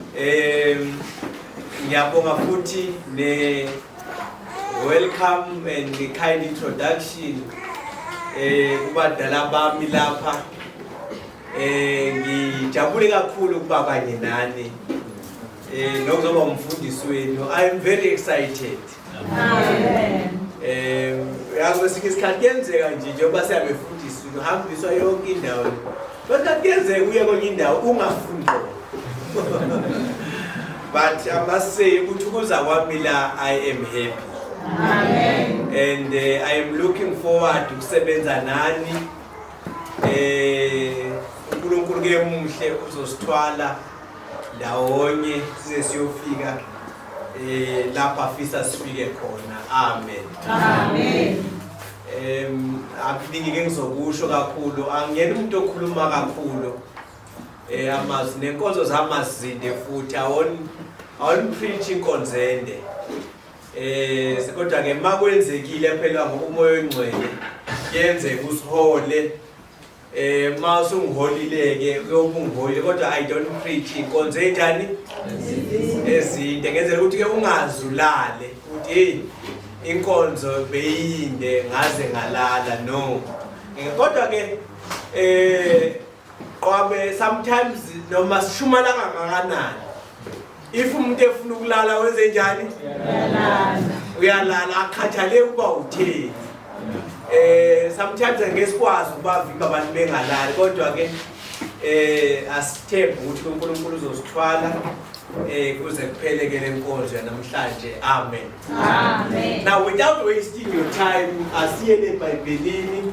Um ngiyabonga futhi ne welcome and the kind introduction eh kubadala bami lapha eh ngijabule kakhulu ukuba kanye nani eh nokuzoba umfundisi wenu i am very excited Eh, yazi kwesinye isikhathi kuyenzeka nje njengoba siyabefundisa uhambiswa yonke indawo kodwa kuyenzeka uye kwenye indawo ungafundi but i must say ukuthi ukuza kwami la i am happy Amen. and uh, i am looking forward ukusebenza nani eh uNkulunkulu ke muhle uzosithwala ndawonye size siyofika eh lapha afisa sifike khona amen amen em akuningi ke ngizokusho kakhulu angiyena umuntu okhuluma kakhulu eh amazi nenkonzo zamazinde futhi awon awon preach inkonzende eh kodwa ke makwenzekile phela ngokumoya ongcwele yenze kusihole Eh ma usungiholileke uyobungiholi kodwa I don't preach inkonzo enjani? Ezinde ngenzela ukuthi ke ungazulale ukuthi hey inkonzo beyinde ngaze ngalala no. Eh, kodwa ke eh qobe sometimes noma sishumala kangakanani if umuntu efuna ukulala wenze njani uyalala akhathaleki uba utheni eh sometimes ngeke sikwazi ukubavimba abantu bengalali kodwa ke eh asithembe ukuthi uNkulunkulu uzosithwala eh kuze kuphele ke lenkonzo yanamhlanje amen amen now without wasting your time asiye eBhayibhelini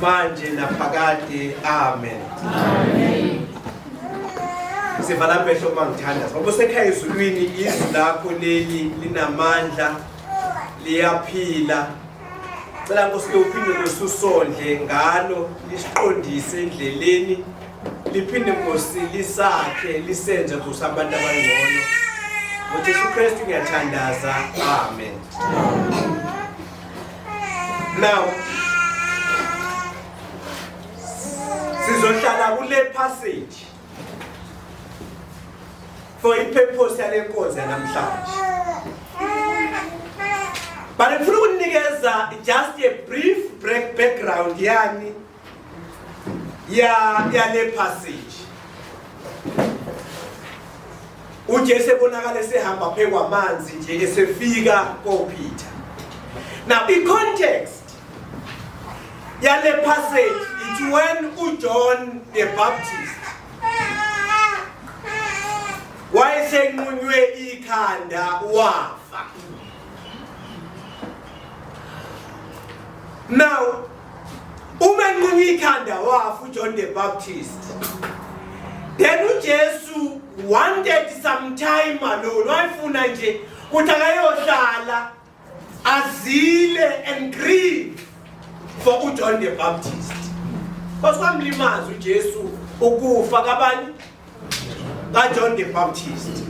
manje naphakade amen amen sivala amehlo uma ngithandaza ngoba usekhaya ezulwini izwi lakho leli linamandla liyaphila cela nkosi ke uphinde nkosi usondle ngalo lisiqondise endleleni liphinde nkosi lisakhe lisenze nkosi abantu abangcono ngojesu kristu ngiyathandaza amen, amen. now sizohlala kule passage for ipurpose yale nkonzo yanamhlanje but ngifuna ukunikeza just a brief break background yani ya yale passage uJesu ebonakala esehamba phe kwamanzi nje esefika koPeter now i context yale passage it's when uJohn the Baptist wayesenqunywe ikhanda wafa now Uma enquma ikhanda wafa uJohn the Baptist. Then uJesu wanted some time alone wayefuna nje ukuthi akayohlala azile and grieve for uJohn the Baptist. Kwasikwamlimaza uJesu ukufa kabani kaJohn the Baptist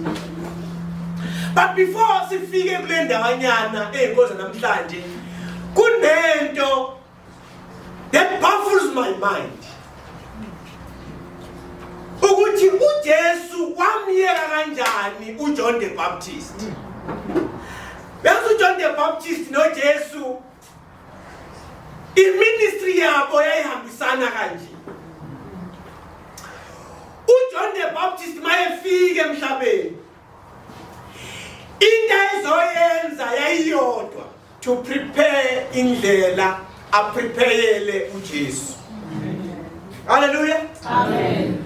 but before sifike kule ndawanyana eyinkoza namhlanje kunento that baffles my mind ukuthi uJesu wamyeka kanjani uJohn the Baptist Yazi uJohn the Baptist noJesu iministry yabo yayihambisana kanje uJohn the Baptist mayefike emhlabeni into ayizoyenza yayiyodwa to prepare indlela aprepayele uJesu haleluya amen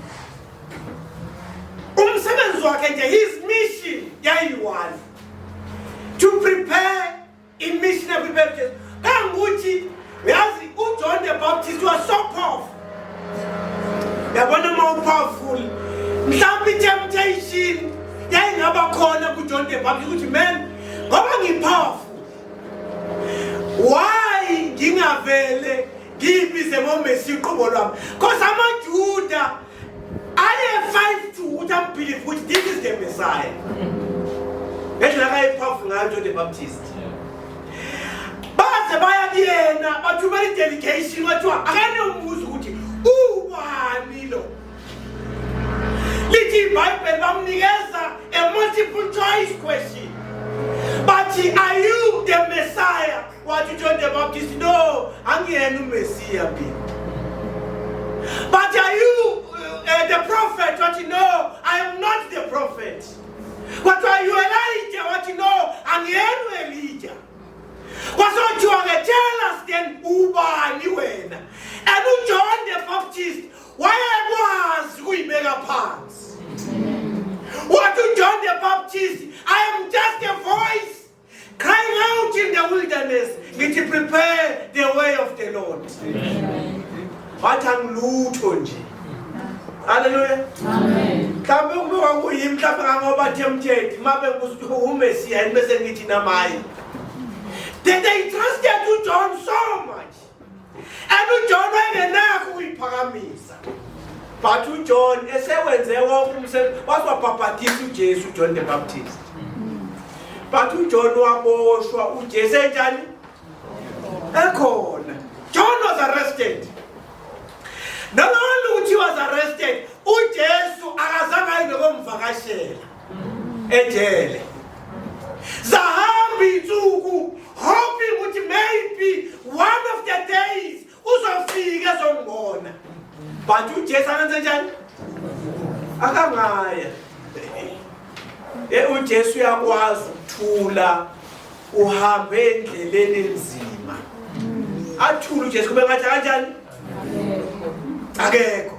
umsebenzi wakhe nje his mission yayiyi-one to prepare imission yakwimpela ujesu kangukuthi yazi ujohn the baptist was so powerful yabona uma upowerful mhlawumbe i-temptation yayingaba khona kujohn the baptist ukuthi man ngoba ngipowerful why ngingavele ngiyibize ngomesi uqobo lwami cause amajuda baze baya kuyena bathumela idelegation kwathiwa akanombuza ukuthi uwani lo lithi ibhayibheli bamnikeza a multiple choice question bathi are you the messiah Wathi uJohn the Baptist no angiyena uMesiya mina. But are you uh, the prophet? Wathi no I am not the prophet. Wathi are you Elijah? Wathi no angiyena uElijah. Wasothiwa ke tell us then ubani wena? And uJohn the Baptist wayekwazi kuyibeka phansi. Wathi uJohn the Baptist I am just a voice Crying out in the wilderness, ngithi prepare the way of the Lord. Wathi angilutho nje. Hallelujah. Amen. Kambe ukuba kuyimi mhlawumbe kangoba tempted mabe kusihumesia bese ngithi namaye. Then they trusted to John so much. and uJohn wayengenakho ukuyiphakamisa but uJohn esewenze wonke umsebenzi waswabhabhathisa uJesu uJohn the Baptist but uJohn waboshwa uJesu enjani ekhona John was arrested nalolu uthi was arrested uJesu akazange ayibe komvakashela ejele zahamba insuku hoping ukuthi maybe one of the days uzofika ezongibona but ujesu akenze njani akangaya e ujesu uyakwazi ukuthula uhambe endleleni enzima athule ujesu kube ngathi kanjani akekho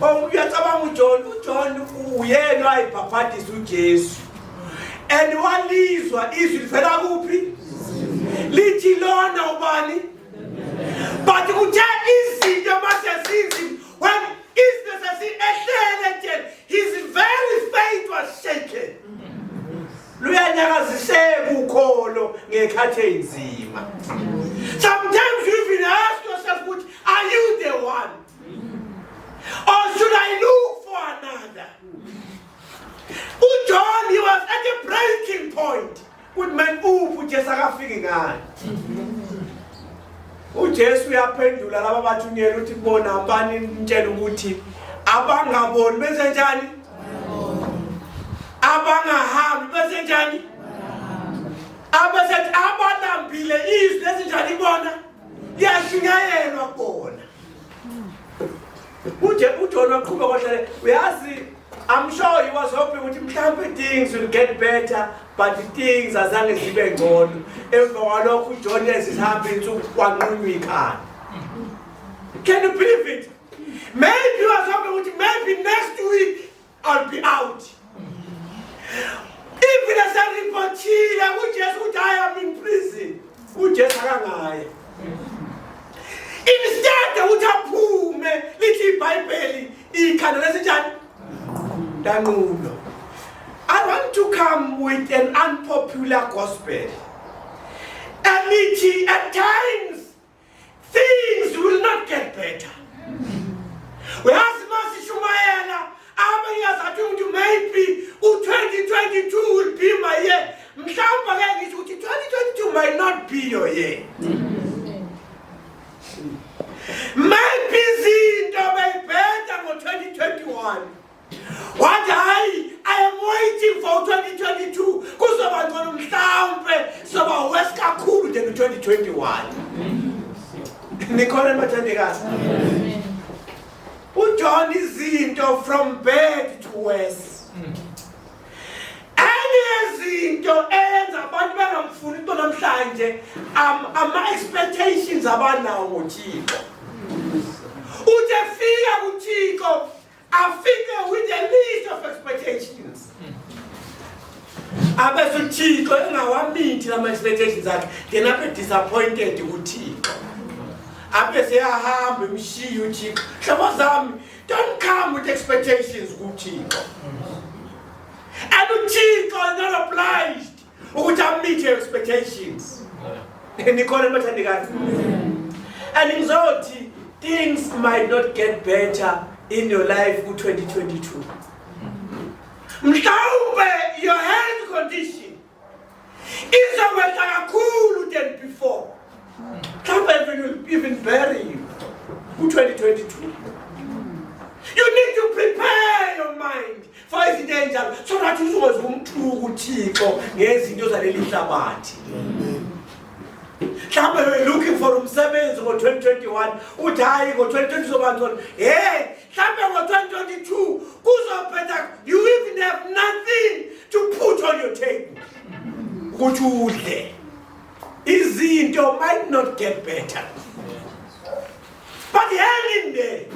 Oh, uyacabanga uJohn uJohn uyena wayibhabhadisa uJesu and walizwa izwi livela kuphi lithi lona ubani but kuthe izinto mase zinzima when izinto sesiyehlele nje his very faith was shaken luyanyakaziseka ukholo ngekhathi enzima sometimes you even ask yourself ukuthi are you the one or should i look for another ujohn he was at a breaking point ukuthi man uphi ujesu akafiki ngani ujesu uyaphendula laba bathunyela ukuthi bona bani nitshela ukuthi abangaboni benze njani abangahambi bese njani abasethi abalambile izwi lezinjani bona liyashunyayelwa kona uje ujona uqhuba kwahlale uyazi I'm sure he was hoping ukuthi mhlawumbe things will get better but things azange zibe ngcono emva kwalokho ujohn ezihamba insuku kwanqunywa ikhanda can you believe it maybe wazame ukuthi maybe next week i'll be out even eseripothile ujesu ukuthi i am in prison ujesu akangaya instead ukuthi aphume lithi ibhayibheli ikhanda lesinjani lanqulo i want to come with an unpopular gospel elithi at times things will not get better uyazi masishumayela abanye azathi umuntu maybe u-2022 will be my year mhlawumbe ke ngithi ukuthi 2022 might not be your year maybe izinto bayibheda ngo-2021 wathi hayi i am waiting for 2022 kuzoba ngcono mhlawumbe soba wes kakhulu than 2021 nikhona bathandekazi ujohn izinto from bad to worse izinto enza abantu bangamfuni into namhlanje ama-expectations abanawo ngothixo uthi efika kuthixo afike with a list of expectations abese uthixo engawamithi lama-expectations akhe then abe disappointed kuthixo abe seyahamba emshiyi uthixo hlobo zami don't come with expectations kuthixo and uthixo is not obliged ukuthi I meet your expectations nikhona nibathandekazi and ngizothi things might not get better in your life ku-2022 mhlawumbe your health condition izokwehla kakhulu than before mhlawumbe even will even bury you ku-2022 you need to prepare your mind faiza into enjalo so nathi uzokwazi ukumthuka uthixo ngezinto zaleli hlabathi mhlawumbe we're looking for umsebenzi ngo-2021 uthi hhayi ngo-2020 uzobancono hey mhlawumbe ngo-2022 kuzophetha you even have nothing to put on your table ukuthi udle izinto might not get better but hell in there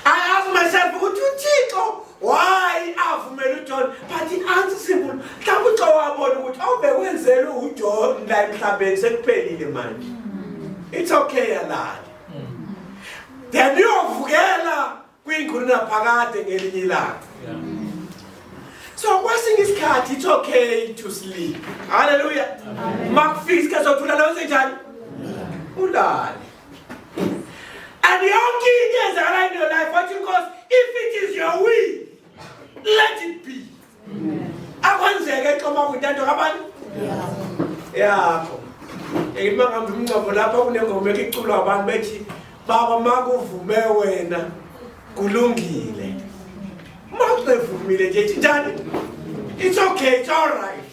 I ask myself ukuthi uThixo why avumela uJohn but the answer simple mhlawumbe uxa wabona ukuthi awubekwenzelwe uJohn la emhlabeni sekuphelile manje it's okay yalala then uyovukela kwingqulu naphakade ngelinye ilanga so kwesinye isikhathi it's okay to sleep haleluya makufika isikhathi sokuthula nawenze njani ulale And yonke into ezala in your life wathi inkosi if it is your will let it be akwenzeke xoma kwintando kabani yakho ngima ngihambe umngcwabo lapha kunengoma ekiculwa abantu bethi baba makuvume wena kulungile mawuzevumile nje thinjani it's okay it's all right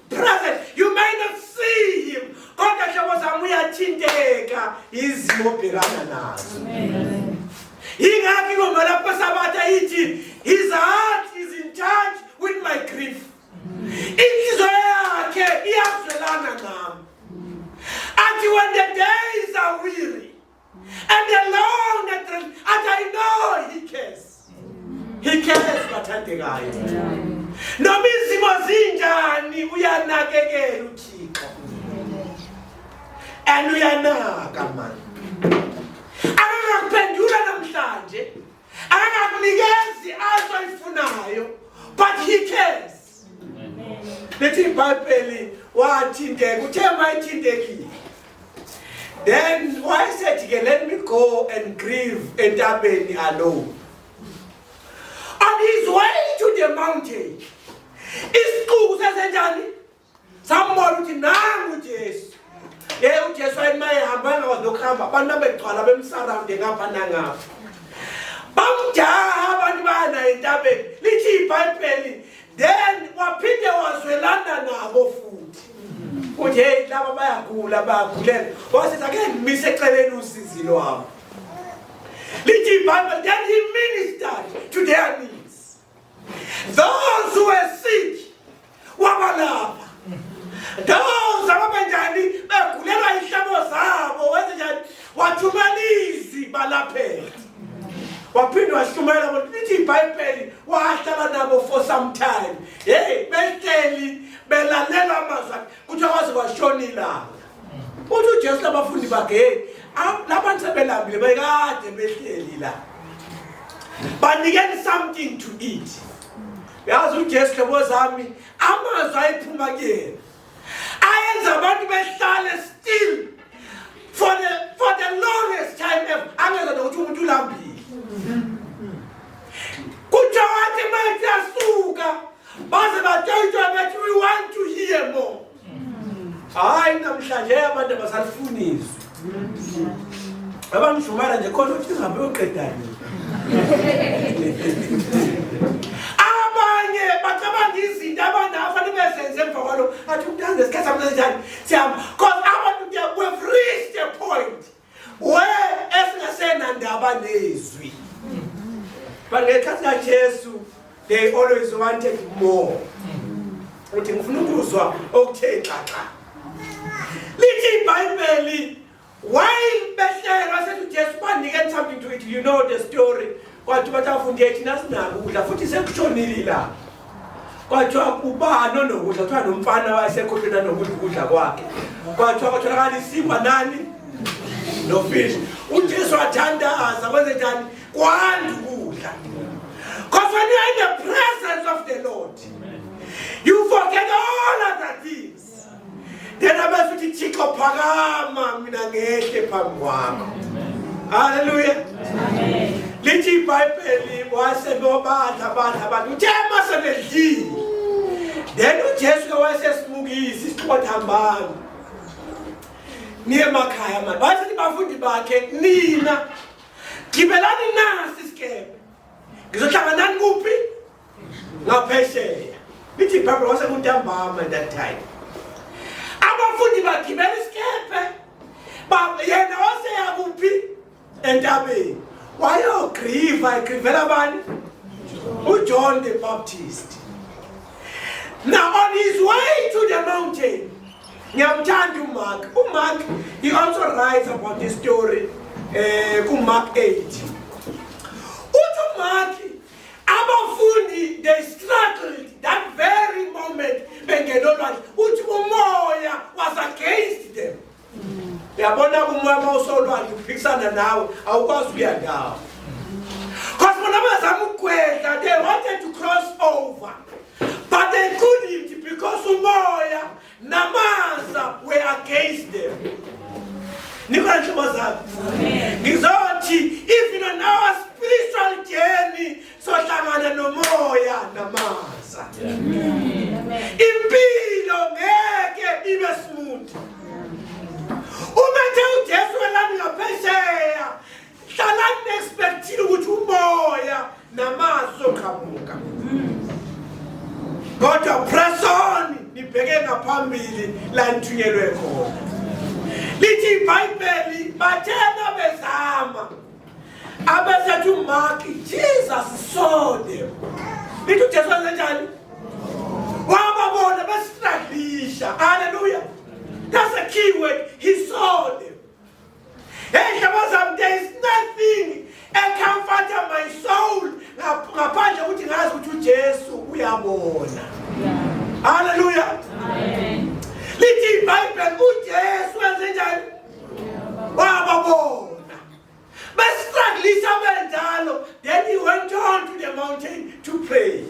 Brothers, you may not see him. Kodwa hlobo zami uyathinteka izimo obhekana nazo. Yingakho ingoma lapho sabatha ithi his heart is in touch with my grief. Inhliziyo yakhe iyazwelana nami. Athi when the days are weary And the long and the, and I know he cares. He cares bathandekayo. Noma izimo zinjani uyanakekela uThixo. And uyanaka manje. Akakuphendula namhlanje. Akakunikezi azoyifunayo but he cares. lithi ibhayibheli wathinteka uthe mayithintekile then wayesethi ke let me go and grieve entabeni alone on his way to the mountain isixuku sesenjani sambona ukuthi nangu ujesu ye ujesu wayema ehamba engakwazi nokuhamba abantu abegcwala bemsarawunde ngapha nangapha bamjaha abantu bayanaye entabeni lithi ibhayibheli then waphinde wazwelana nabo futhi ukuthi heyi laba bayagula bayagulela wasiza ke ngimise eceleni usizi lwabo lithi ibhayibheli then he ministered to their need Those who were sick wabalapha. Those ababenjani begulelwa ihlabo zabo wenze njani wathumela izwi balaphela. Waphinde washumayela ukuthi lithi iBhayibheli wahlala nabo for some time. Hey, behleli belalela amazwi kuthiwa kwaze kwashona ilanga uthi ujesu labafundi bakhe heyi labantu sebelambile bekade behleli la banikeni something to eat yazi ujesu hlobo zami amazwi ayephuma kuyena ayenza abantu behlale still for the, for the longest time ever angeza nokuthi umuntu ulambile kuthiwa wathi mathi asuka Baze batayitwa bathi we want to hear more. Hayi namhlanje abantu abasalifuniswa. Abamshumara nje khona uthi ngihambe uyoqedani. Abanye bacabanga izinto abanafa nibezenze emva kwalo athi umntana ngesikhathi samnanjani siyama because abantu they have reached a point we esingasenandaba nezwi but ngekhathi kajesu they always wanted more uthi ngifuna ukuzwa okuthe xaxa lithi ibhayibheli while behlelwa sethi ujesu banike something to it you know the story Kwathi batafunda ethi nasinako ukudla futhi sekushonile la. Kwathi ubani onokudla kuthiwa nomfana wayesekhohlwena nokudla ukudla kwakhe. Kwathi kwatholakala isikwa nani? Nofish. UJesu wathandaza kwenze njani? Kwanda ukudla. Because when you are in the presence of the Lord, you forget all other things. then abese uthi thixo phakama mina ngehle phambi kwakho halleluya lithi ibhayibheli wasenobadla badla abantu uthe masenedlile then ujesu ke wayesesimukisa isiqothi hambani niye emakhaya mani wayesethi bafundi bakhe nina gibelani nasi isikebe ngizohlanganani kuphi ngaphesheya ithi ibhayibhile kwasekuntambama that time abafundi bagibela isikephe yena oseyakuphi entabeni wayogriva egrivela bani ujohn the baptist now on his way to the mountain ngiyamthanda umark umark he also writes about this story um kumark 8 abafundi they struggled that very moment bengena olwandle uthi umoya was against them uyabona kumoya uma usolwandle uphikisana nawe awukwazi ukuya ndawo because bona bazama ukugwedla they wanted to cross over but they couldn't because umoya Namaza we against them. Nikwanje bazali. Ngizothi even on our spiritual journey sohlangana nomoya namaza. Impilo ngeke ibe smooth. Uma nje uJesu welani ngaphesheya hlalani nespekthile ukuthi umoya namazwi zoqhamuka kodwa press on nibheke ngaphambili la nithunyelwe khona lithi ibhayibheli bathena bezama abesethu umaki jesus sode lithi ujesu wenzenjani wababona besihlalisha haleluya that's a key word he saw them Hey, hlobo zam, there is nothing ecomforter my soul ngaphandle ukuthi ngazi ukuthi uJesu uyabona. Hallelujah. Amen. Lithi iBhayibheli uJesu wenze njani? Wababona. Besistrugglisa benjalo, then he went on to the mountain to pray.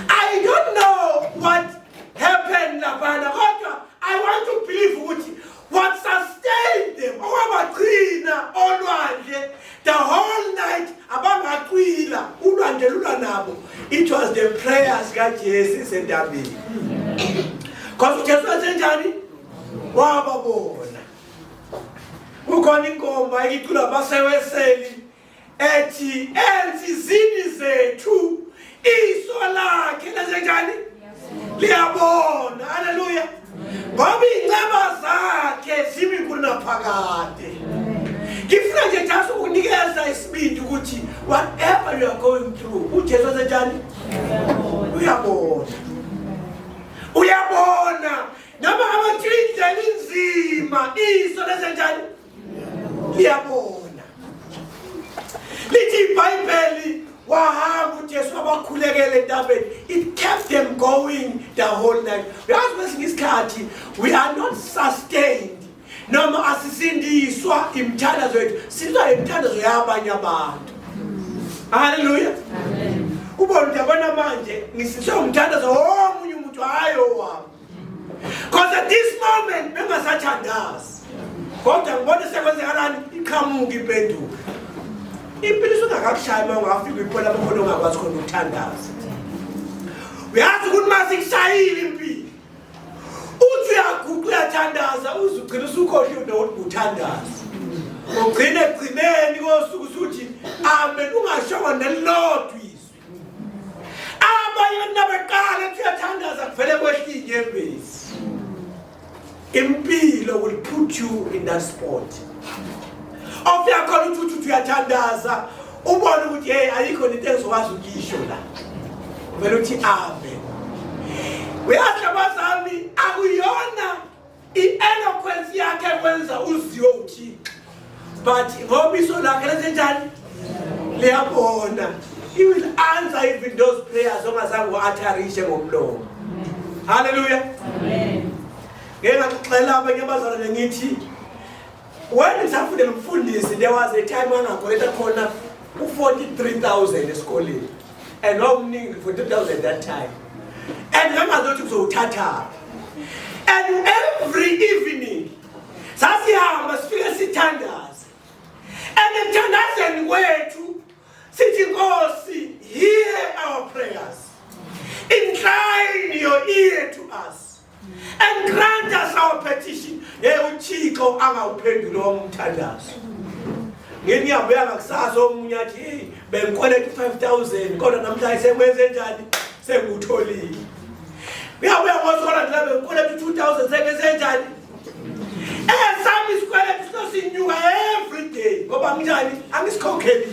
I don't know what happened laphana kodwa I want to believe ukuthi What sustained them? Okwabagcina olwandle the whole night abangacwila ulwandle lula nabo. It was the prayers kaJesu esendabeni. Because uJesu wasenjani? Wababona. Kukhona inkomba icula baseweseli ethi enzizini zethu iso lakhe lasenjani liyabona haleluya ngoba iy'nceba zakhe zimi kunaphakade ngifuna nje just ukunikeza isibindi ukuthi whatever you are going through ujesu wasenjani uyabona uyabona noma abatsho indlela inzima iso lesenjani liyabona lithi ibhayibheli wahamba ujesu wabakhulekela entabeni it kept them going the whole night uyazi kwesinye isikhathi we are not sustained noma asisindiswa imithandazo yethu sindiswa imithandazo yabanye abantu haleluya ubona uyabona manje ngisindiswe umthandazo womunye umuntu hhayi owami Because at this moment bengasathandazi. Kodwa ngibona sekwenzekalani iqhamuka impendulo. Impilo isungakakushaya uma ungafika ipola bokhona ongakwazi khona ukuthandaza. Uyazi ukuthi mase kushayile impilo. Uthi uyaguqa uyathandaza uzugcina usukhohle ukuthi uthandaza. Ugcine egcineni kosuku usuthi amen ungashongo nelilodwa izwi. abanye nabaqala ethi uyathandaza kuvele kwehla inyembezi impilo will put you in that spot ofika khona uthi uthi uyathandaza ubone ukuthi hey ayikho into engizokwazi ukuyisho la vele uthi ave uyazi abazali akuyona I-eloquence yakhe kwenza uziwe uthixo but ngoba iso lakhe lenzenjani liyabona he will answer even those prayers ongazange u-atharishe ngomlomo halleluya ngeke ngaxoxela abanye abazalwane ngithi when ngisafundela umfundisi there was a time angakoleta khona u-43 000 esikoleni and wawumningi for 2000 that time and ngangazothi kuzowuthatha and every evening sasihamba sifike sithandaze and ekuthandazeni kwethu sithi nkosi hear our prayers incline your ear to us and grant us our petition hey uthixo angawuphenduli wami umthandazo ngini yabuya ngakusasa omunye athi hey bengikweleta 5000 kodwa namhlanje sekwenze njani sengutholile uyabuya ngosola ndila bengikweleta 2000 sekwenze njani esami eh, isikweleta sosinyuka every day ngoba nginjani angisikhokheli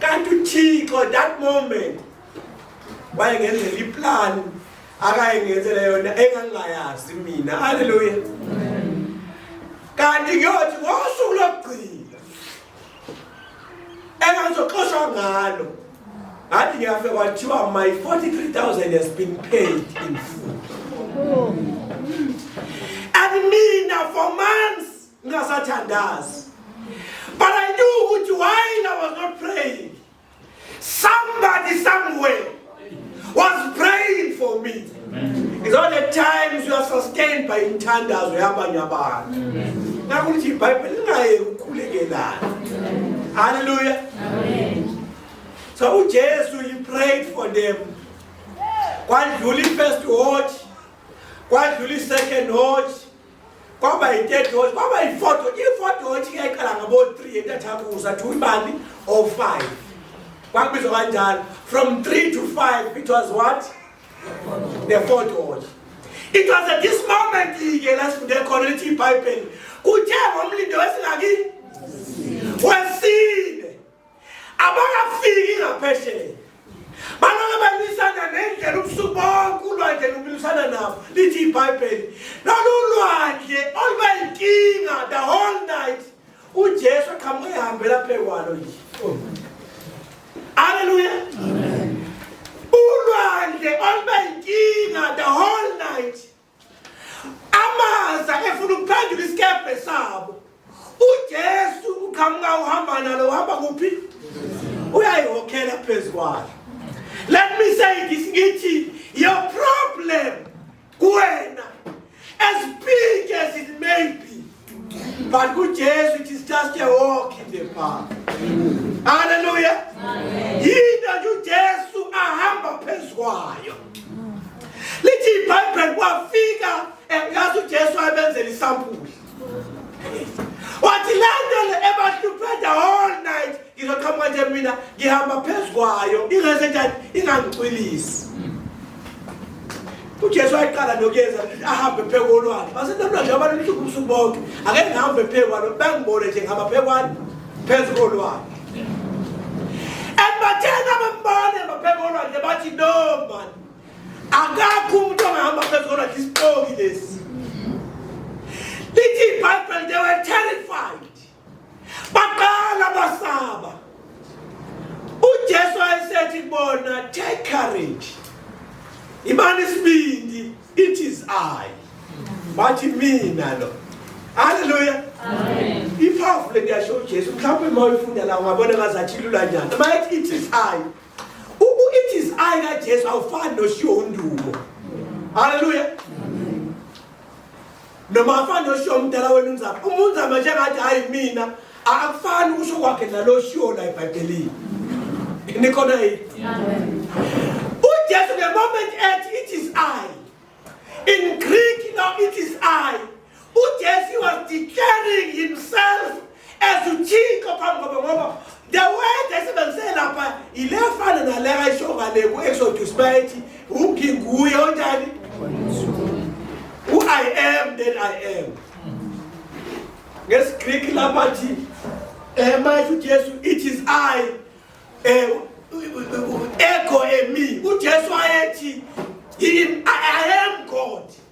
kanti uthixo that moment wayengenzela iplan akayengenzela yona engangingayazi mina haleluya kanti kuyothi ngosuku lokugcina engangizoxoshwa ngalo ngathi ngiyafe kwathiwa my 43000 has been paid in full and mina for months ngingasathandazi but i knew ukuthi while i was not praying somebody somewhere was praying for me is all the times you are sustained by inthandazo yabanye abantu ngakho ukuthi ibhayibheli lingayeki ukukhulekelana haleluya so ujesu he prayed for them kwadlula i-first watch kwadlula i-second watch kwaba yi-third watch kwaba yi-fourth watch i-fourth watch iyayiqala ngabo-three entathakusa to imali or oh five kwakubizwa kanjalo from three to five it was what the fourth watch it was at this moment ke la sifunde khona lithi ibhayibheli kuthe ngomlindo wesingakini wesini abakafiki ngaphesheya baloke balwisana nendlela ubusuku bonke ulwandle lumilisana nabo lithi ibhayibheli lolu lwandle oluba yinkinga the whole night ujesu aqhamuke ehambela phekwalo nje aleluya ulwandle oluba yinkinga the whole night amaza efuna ukuphendula isikebhe sabo ujesu uqhamuka uhamba nalo uhamba kuphi uyayihokhela phezu kwalo let me say this ngithi your problem kuwena as big as it may be But good Jesu, it is just a walk in the park. Hallelujah. Yinto nje uJesu ahamba phezu kwayo. Lithi iBhayibheli kwafika yazi uJesu ayebenzela isampuli. Wathi le nto le ebahluphe the whole night ngizoqhamuka nje mina ngihamba phezu kwayo ingase njani ingangicwilisi. uJesu wayeqala nokuyenza ahambe phezu kolwandle basenamna nje abantu lusuku ubusuku bonke ake ngihambe phezu kwalo bengibone nje ngihamba phezu kwalo phezu kolwandle embatheni abambane baphezu kolwandle bathi no mani akakho umuntu ongahamba phezu kolwandle isipoki lesi lithi ibhayibheli they were terrified baqala basaba uJesu ayesethi kubona take courage imani isibindi it is i bathi mina lo haleluya amen iphafu le kuyasho uJesu mhlawumbe uma uyifunda la ungabona ngazathi lula njani uma ethi it is i uku it is i kaJesu awufani noshiwo undumo haleluya noma afani oshiyo umdala wenu unzama uma unzama njengathi hhayi mina akufani ukusho kwakhe nalo oshiwo la ebhayibhelini nikhona yini ujesu the moment ethi it is i in greek no it is i ujesu was declaring himself as uthixo phambi kwabo ngoba the word esebenzise lapha yile fana nale ayisho ngale ku-exodus bayethi unginguye onjani u-i am then i am ngesigreek lapha thi um mayesho ujesu it is i um ego emi ujesu ayethi i am god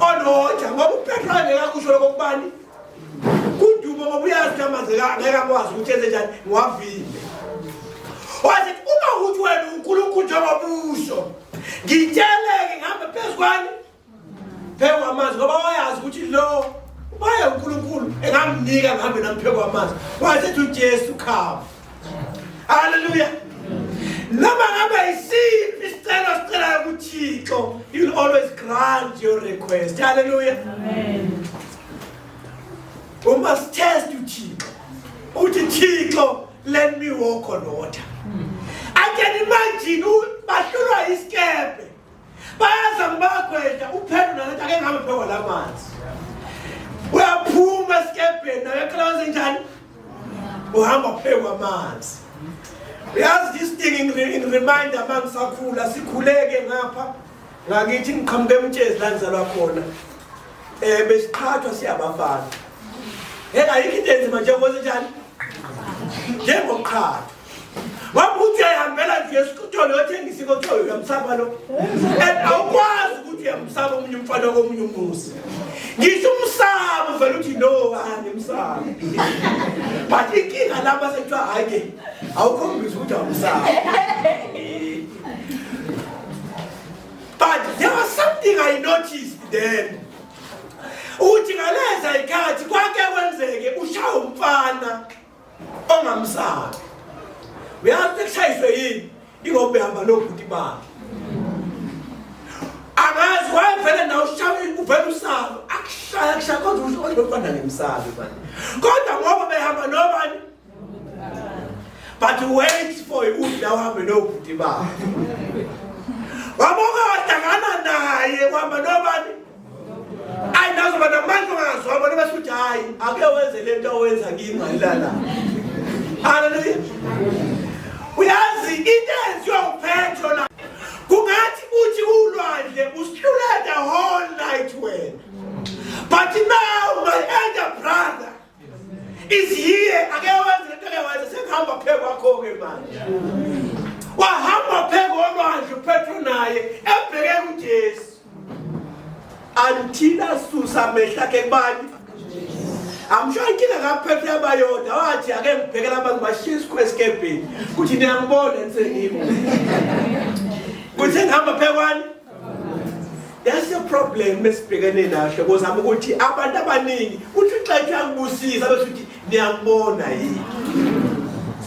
onoja ngoba upetro angeke akusho lokho kubani kudumo ngoba uyazi kamanzi ngeke akwazi ukuthi enze njani ngiwavile wathi uma ukuthi wena unkulunkulu njengobuso ngitsheleke ngihambe phezu kwani phezu kwamanzi ngoba wayazi ukuthi lo ubaye unkulunkulu engamnika ngihambe namphezu kwamanzi wasethi ujesu khava Hallelujah. Noma ngabe isiphi isicelo sicelayo kuThixo, you'll always grant your request. Hallelujah. Amen. We must test you, Thixo. Uthi Thixo, let me walk on water. I can imagine bahlulwa isikebhe. bayaza ngibagwedla uphelo nalathi ake ngihambe phekwa la manzi uyaphuma esikebheni nayo eqala wenze njani uhamba phekwa amanzi uyazi this thing in, in remind ama ngisakhula sikhuleke ngapha ngakithi ngiqhamuke emtshezi la ngizalwa khona um besiqhathwa siyabafana engayikho into enzima njengoba senjani njengoqhathwa Wabuthi uyahambela nje esikuthola yothengisa ikothoyo uyamsaba lo. And awukwazi ukuthi uyamsaba omunye umfana komunye umuzi. Ngisho umsaba uvela uthi no ani umsaba. But inkinga laba sekuthiwa hayi ke awukhombisi ukuthi awumsaba. But there was something I noticed then. Uthi ngaleza ikhathi kwake kwenzeke ushawa umfana. ongamzali uyazi ekushayiswe yini ingoba behamba nobhuti bakhe angazi wayevele nawe ushaya uvele usalo akushaya kushaya kodwa usho kodwa befana ngemsalo manje kodwa ngoba behamba nobani but wait for ukudla uhambe nobhuti bakhe waboka wadangana naye wahamba nobani ayi nazo bana manje ungazwa bona basho ukuthi hayi ake wenze lento owenza kimi mayilala haleluya uyazi into enziwa uphetho la kungathi uthi ulwandle usihluleka whole night wena but now my elder brother iziye ake wenze lento ake wenze sekuhamba phe kwakho-ke manje wahamba phe kolwandle uphetro naye ebheke kujesu until asusa amehlo akhe kubani amsho inkinga kaphethe abayoda wathi ake ngibhekela abantu bashiye isikhwe esikebheni kuthi niyangibona nisengimo kuthe ngihamba phekwani That's the problem esibhekene nahle kozama ukuthi abantu abaningi uthi uxethu yakubusisa bese uthi niyakubona yini.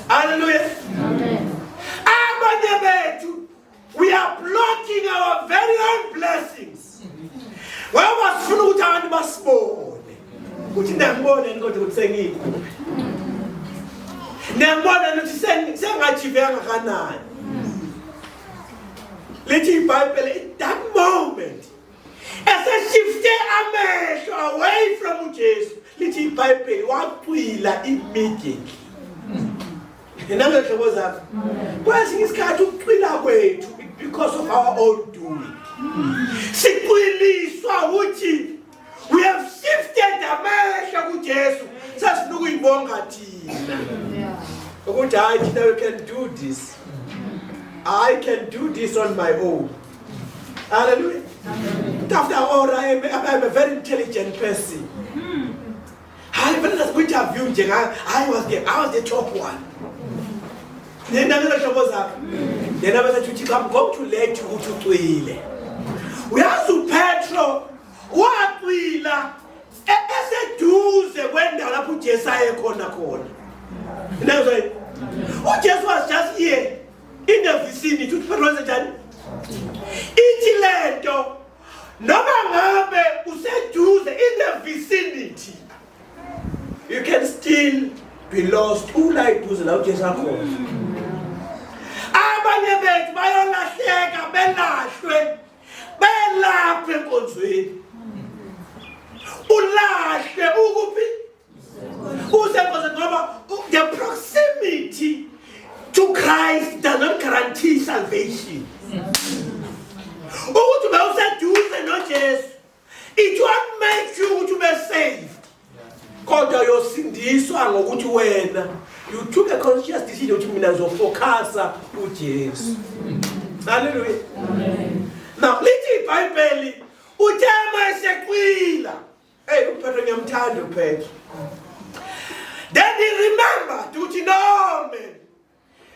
Hallelujah. Amen. Abanye bethu we are blocking our very own blessings. Ngoba sifuna ukuthi abantu basibone. Ukuthi niyakubona yini kodwa ukuthi sengikuphi. Niyakubona ukuthi sengathi veka kanani. lithi ibhayibhele that moment eseshifte amehlo away from ujesu lithi ibhayibheli wacwila immediately nenangehlobo zakho kwesinye isikhathi ukucwila kwethu because of our own doing sicwiliswa ukuthi we have shifted amehlo kuJesu sasifuna ukuyibonga thina ukuthi hayi thina we can do this i can do this on my own hallelujah after all i am, I am a very intelligent person hayi fanele sasikwi-interview nje ngayo hayi was the i was the top one nenanelo hlobo zakhe yena besethi uthixo am going to let you ukuthi ucwile uyazi upetro wacwila e-, eseduze kwendawo lapho ujesu ayekhona khona inezay ujesu was just here in the vicinity uthi petro wenzenjani ithi le nto noma ngabe useduze in the vicinity you can still be lost ula iduze la ujesu akhona abanye bethu bayolahleka belahlwe belapha enkonzweni ulahle ukuphi usekhona ngoba the proximity to christ does not guarantee salvation ukuthi ube useduze nojesu it won't make you ukuthi ube saved kodwa uyosindiswa ngokuthi wena you took a conscious decision ukuthi mina ngizofocasa ujesu halleluya now lithi ibhayibheli uthe uma eseqwila Hey, uPhetho ngiyamthanda uPhetho. Then he remembered ukuthi no man.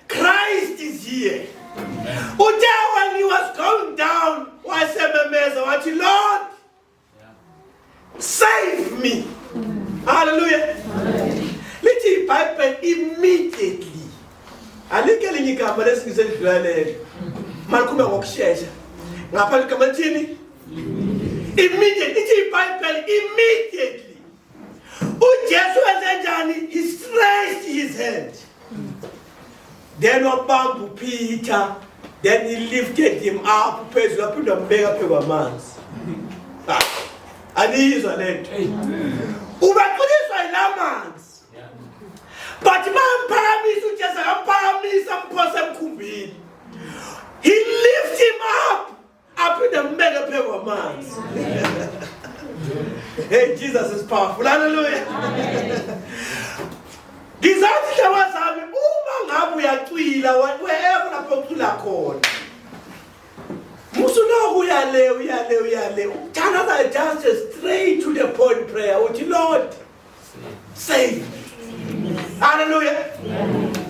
Christ is here. Uthe when he was going down wasememeza wathi Lord save me. Hallelujah. Lithi iBhayibheli immediately. Alike linye igama lesingiselidlulelele. Malikhuluma ngokushesha. Ngapha ligama lithini? immediately ithi ibhayibheli immediately ujesu wenze njani he stretched his hand then wabamba upeter then he lifted him up phezulu aphinde wambeka phezu kwamanzi ah, aniyizwa le nto ubaqiniswa yila manzi but bamphakamisa ujesu akamphakamisa amphosa emkhumbini he lift him up aphinde ambeke phezu kwamanzi hey jesus is powerful haleluya ngizathi hlawa zami uma ngabe uyacwila wherever lapho ucula khona musuloku uyale uyale uyale ukuthandaza just straight to the point prayer uthi lord saved haleluya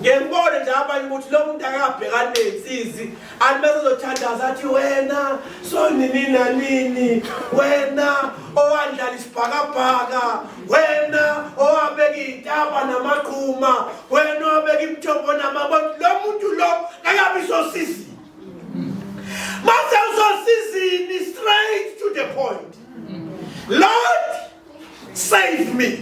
ngiyakubona nje abanye ukuthi lo muntu akabhekani nensizi anti bese zothandaza athi wena sonini nanini wena owandlala isibhakabhaka wena owabeka iy'taba namaqhuma wena owabeka imithombo namabona lo muntu lo akabi sosizini mase usosizini straight to the point lord save me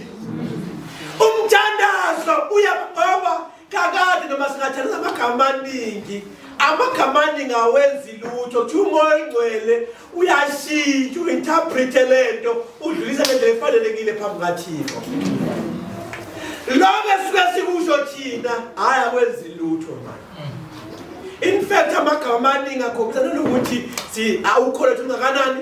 umthandazo uyakuqoba kakade noma singathandaza amagama amaningi amagama aningi awenzi lutho kuthiwa umoya oyingcwele uyashintsha uinterprete le nto udlulisa le ndlela efanelekile phambi kathixo lokho esuke sikusho thina hhayi akwenzi lutho manje in fact amagama amaningi akhombisa nanokuthi awukholethwa ungakanani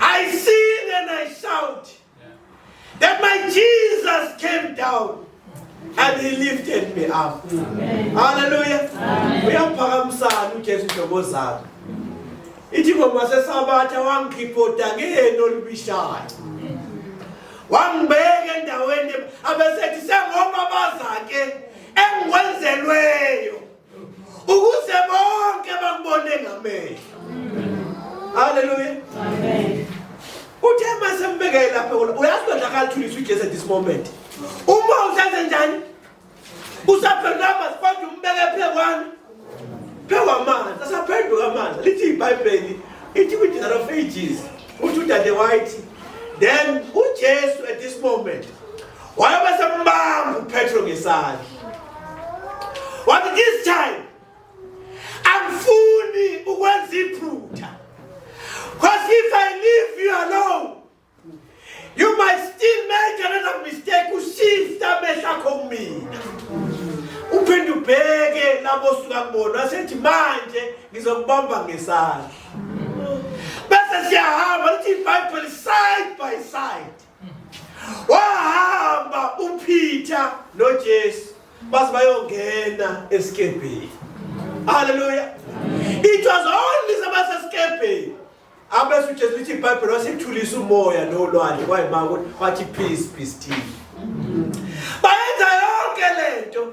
I sing and I shout that my Jesus came down and he lifted me up. Hallelujah. Uyaphakamisana uJesu inhlobo zakhe. Ithi ngoma sesabatha wangikhiphoda ngeni olubishayo. Wangibeka endaweni abesethi sengoma bazake engikwenzelweyo. ukuze bonke bakubone ngamehlo haleluya amen uthe mase mbekele lapha kulo uyazi kodwa akalithuliswa uJesu at this moment uma usenze njani usaphendula amanzi kodwa umbeke phekwani phewamanzi asaphenduka amanzi lithi ibhayibheli ithi kwi-dinner of ages uthi udade wayithi then ujesu at this moment wayobe sembamba uPetro ngesandla wathi this time angifuni ukwenza iphutha because if i leave you alone you might still make another mistake ushifte amehlo akho kumina uphinde ubheke labo suka kubona wasethi manje ngizokubamba ngesandla bese siyahamba lithi ibhayibheli side by side wahamba uPeter noJesu baze bayongena esikebheni haleluya it was only sebasesikebheni abese uJesu lithi iBhayibheli wasithulisa umoya nolwandle kwayimako wathi peace be still bayenza yonke lento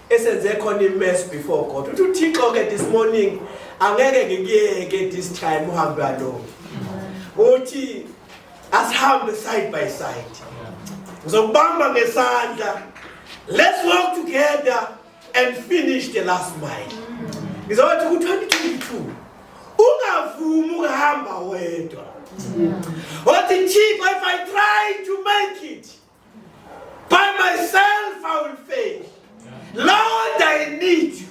esenze khona imess before god uthi uthixo ke this morning angeke ngikuyeke this time uhambe alone uthi asihambe side by side ngizokubamba ngesandla let's work together and finish the last mile ngizothi ku-2022 ungavumi ukuhamba wedwa wathi thixo if i try to make it By myself I will fail. Lord I need you.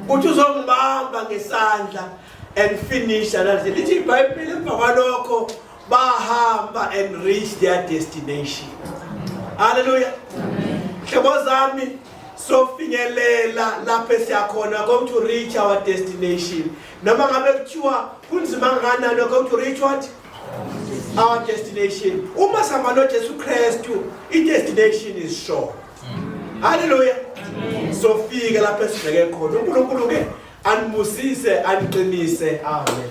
Uthi uzongibamba ngesandla and finish analithi lithi ibhayibhile emva kwalokho bahamba and reach their destination haleluya hlobo zami sofinyelela lapho esiyakhona going to reach our destination noma ngabe kuthiwa kunzima kanganani going to reach what our destination uma sihamba nojesu kristu i-destination is sure halleluya sofika lapho esibheke khona unkulunkulu ke anibusise aniqinise amen